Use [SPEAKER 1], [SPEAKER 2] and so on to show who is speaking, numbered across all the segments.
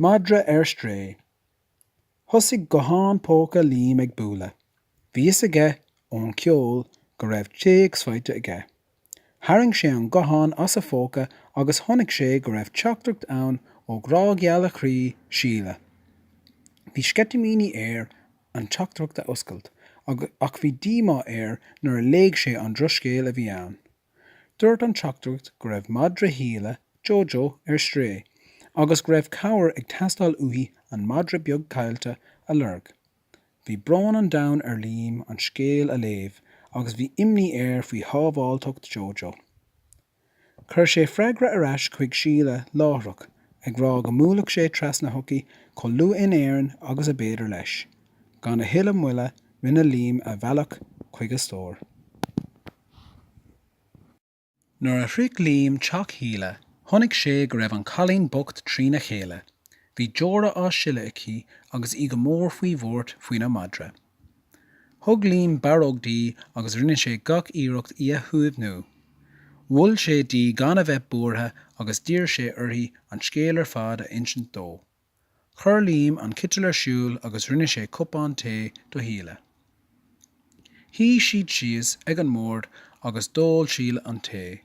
[SPEAKER 1] Madra ar strae. Thosaigh guthán póca Liam ag bualadh. Bhí fhios aige ón cheol go raibh téacs faighte aige. Tharraing sé an guthán as a phóca agus chonaic sé go raibh teachtaireacht ann ó ghrá geal a chroí, Síle. Bhí sceitimíní air an teachtaireacht a oscailt ach bhí díomá air nuair a léigh sé an drochscéal a bhí ann. Dúirt an teachtaireacht go raibh madra Shíle, Jojo, ar strae agus go raibh cabhair ag teastáil uaithi an madra beag caillte a lorg. Bhí brón an domhain ar Liam an scéal a léamh agus bhí imní air faoi shábháilteacht Jojo. Chuir sé freagra ar ais chuig Síle láithreach ag rá go mbuailfeadh sé trasna chuici chomh luath in Éirinn agus ab fhéidir leis. Gan a thuilleadh moille rinne Liam a bhealach chuig a stór. Nuair a shroich Liam teach Shíle, chonaic sé go raibh an cailín bocht trína chéile. Bhí deora á sileadh aici agus í go mór faoi bhuairt faoina madra. Thug Liam barróg di agus rinne sé gach iarracht í a shuaimhniú. Mhol sé di gan a bheith buartha agus d'iarr sé uirthi an scéal ar fad a insint dó. Chuir Liam an citeal ar siúl agus rinne sé cupán tae do Shíle. Shuigh siad síos ag an mbord agus d'ól Síle an tae.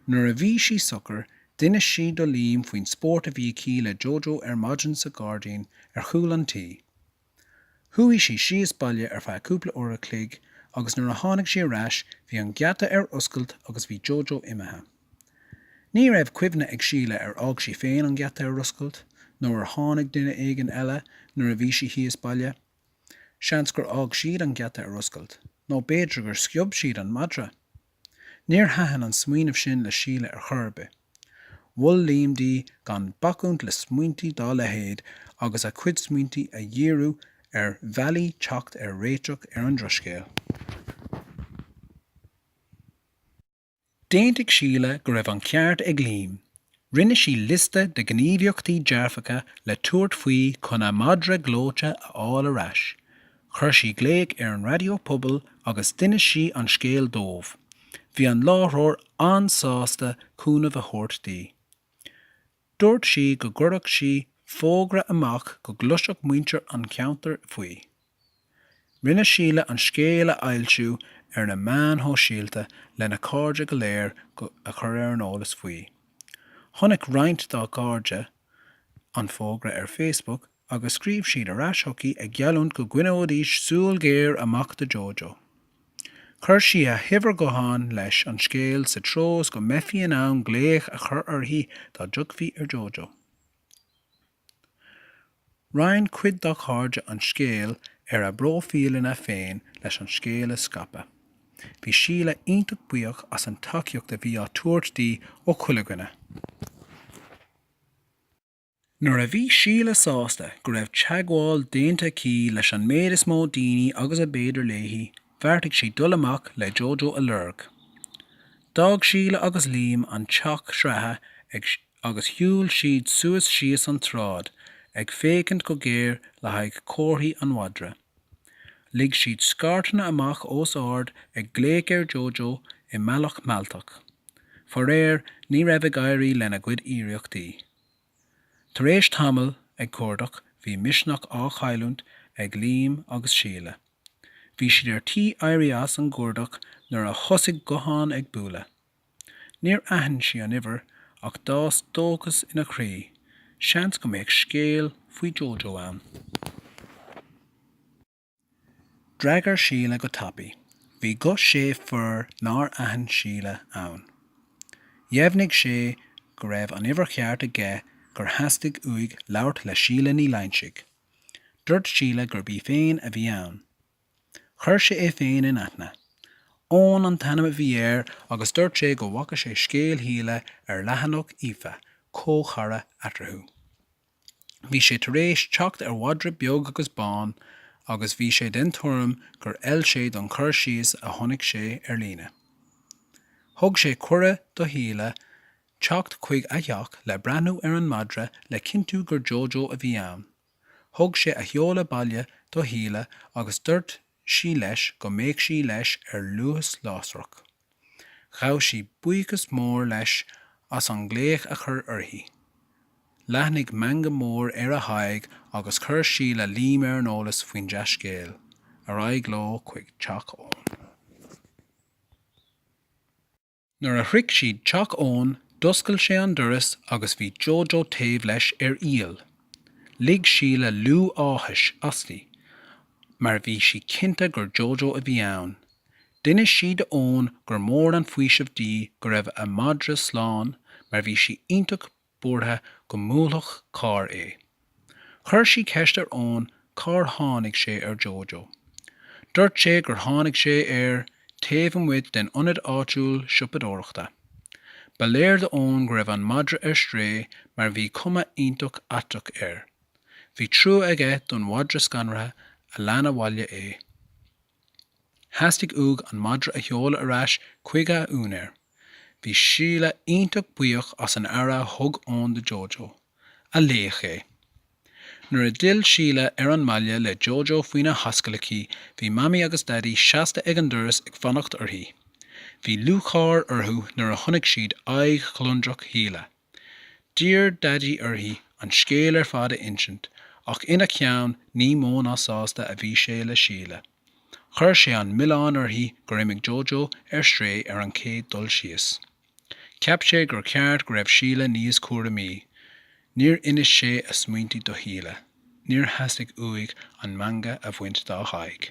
[SPEAKER 1] Nuair a bhí sí socair, d'inis sí do Liam faoin spórt a bhí aici le Jojo ar maidin sa ghairdín ar chúl an tí. Chuaigh sí síos baile ar feadh cúpla uair a chloig agus nuair a tháinig sí ar ais bhí an geata ar oscailt agus bhí Jojo imithe. Ní raibh cuimhne ag Síle ar fhág sí féin an geata ar oscailt nó ar tháinig duine éigin eile nuair a bhí sí thíos baile. Seans gur fhág siad an geata ar oscailt nó b'fhéidir gur sciob siad an madra. Níor thaitin an smaoineamh sin le Síle ar chor ar bith. Mhol Liam di gan bacúint le smaointí dá leithéid agus a cuid smaointí a dhíriú ar bhealaí teacht ar réiteach ar an drochscéal. D'aontaigh Síle go raibh an ceart ag Liam Rinne sí liosta de ghníomhaíochtaí dearfacha le tabhairt faoi chun a madra gleoite a fháil ar ais. Chuir sí glaoch ar an raidió pobail agus d'inis sí an scéal dóibh. Bhí an láithreoir an-sásta cúnamh a thabhairt di. Dúirt sí go gcuirfeadh sí fógra amach go gcloisfeadh muintir an cheantair faoi. Rinne Síle an scéal a fhoilsiú ar na meáin shóisialta lena cairde go léir a chur ar an eolas faoi. Chonaic roinnt dá cairde an fógra ar Facebook agus scríobh siad ar ais chuici ag geallúint go gcoinneoidís súil ghéar amach do Jojo. Chuir sí a huimhir gutháin leis an scéal sa treo is go mbeifí in ann glaoch a chur uirthi dá dtiocfaí ar Jojo. Roinn cuid dá cairde an scéal ar a bpróifíleanna féin leis an scéal a scaipeadh. Bhí Síle iontach buíoch as an tacaíocht a bhí á tabhairt di ó chuile dhuine. Nuair a bhí Síle sásta go raibh teagmháil déanta aici leis an méid is mó daoine agus ab fhéidir léi, bheartaigh sí dul amach le Jojo a lorg. D'fhág Síle agus Liam an teach sraithe ag. agus shiúil siad suas síos an tsráid ag féachaint go géar le haghaidh comharthaí an mhadra. Lig siad scairteanna amach os ard ag glaoch ar Jojo i mbealach mealltach. Faraor, ní raibh ag éirí lena gcuid iarrachtaí. Tar éis tamaill ag cuardach, bhí misneach á chailliúint ag Liam agus Síle. Bhí siad ar tí éirí as an gcuardach nuair a thosaigh guthán ag bualadh. Níor aithin sí an uimhir ach d'fhás dóchas ina croí, seans go mbeadh scéal faoi Jojo ann. D'fhreagair Síle go tapaidh. Bhí guth fir nár aithin Síle ann. Dheimhnigh sé go raibh an uimhir cheart aige gur theastaigh uaidh labhairt le Síle Ní Loingsigh. Dúirt Síle gurb í féin a bhí ann. Chuir sé é féin in aithne. Eoin an t-ainm a bhí air agus dúirt sé go bhfaca sé scéal Shíle ar leathanach Aoife, comhchara eatarthu. Bhí sé tar éis teacht ar mhadra beag agus bán agus bhí sé den tuairim gur fheil sé don chur síos a chonaic sé ar líne. Thug sé cuireadh do Shíle teacht chuig a theach le breathnú ar an madra le cinntiú gur Jojo a bhí ann. Thug sé a sheoladh baile do Shíle agus dúirt sí leis go mbeadh sí leis ar luas lasrach. Ghabh sí buíochas mór leis as an nglaoch a chur uirthi. Leathnaigh meangadh mór ar a haghaidh agus chuir Síle Liam ar an eolas faoin dea-scéal. Ar aghaidh leo chuig teach Eoin. Nuair a shroich siad teach Eoin, d'oscail sé an doras agus bhí Jojo taobh leis ar iall. Lig Síle liú áthais asti mar bhí sí cinnte gur Jojo a bhí ann. D'inis sí do Eoin gur mór an faoiseamh di go raibh a madra slán mar bhí sí iontach buartha go mbuailfeadh carr é. Chuir sí ceist ar Eoin cár tháinig sé ar Jojo. Dúirt sé gur tháinig sé air taobh amuigh den ionad áitiúil siopadóireachta. Ba léir do Eoin go raibh an madra ar strae mar bhí cuma iontach aisteach air. Bhí trua aige don mhadra scanraithe a lean abhaile é. Theastaigh uaidh an madra a sheoladh ar ais chuig a úinéir. Bhí Síle iontach buíoch as an aire a thug Eoin do Jojo, a laoch é. Nuair a d'fhill Síle ar an mbaile le Jojo faoina hascaill aici, bhí Mamaí agus Daidí seasta ag an doras ag fanacht uirthi. Bhí lúcháir orthu nuair a chonaic siad aghaidh ghliondrach Shíle. D'iarr Daidí uirthi an scéal ar fad a insint ach ina cheann ní mó ná sásta a bhí sé le Síle. Chuir sé an milleán uirthi gur imigh Jojo ar strae ar an chéad dul síos. Cheap sé gur cheart go raibh Síle níos cúramaí. Níor inis sé a smaointe do Shíle. Níor theastaigh uaidh an meangadh a bhaint dá haghaidh.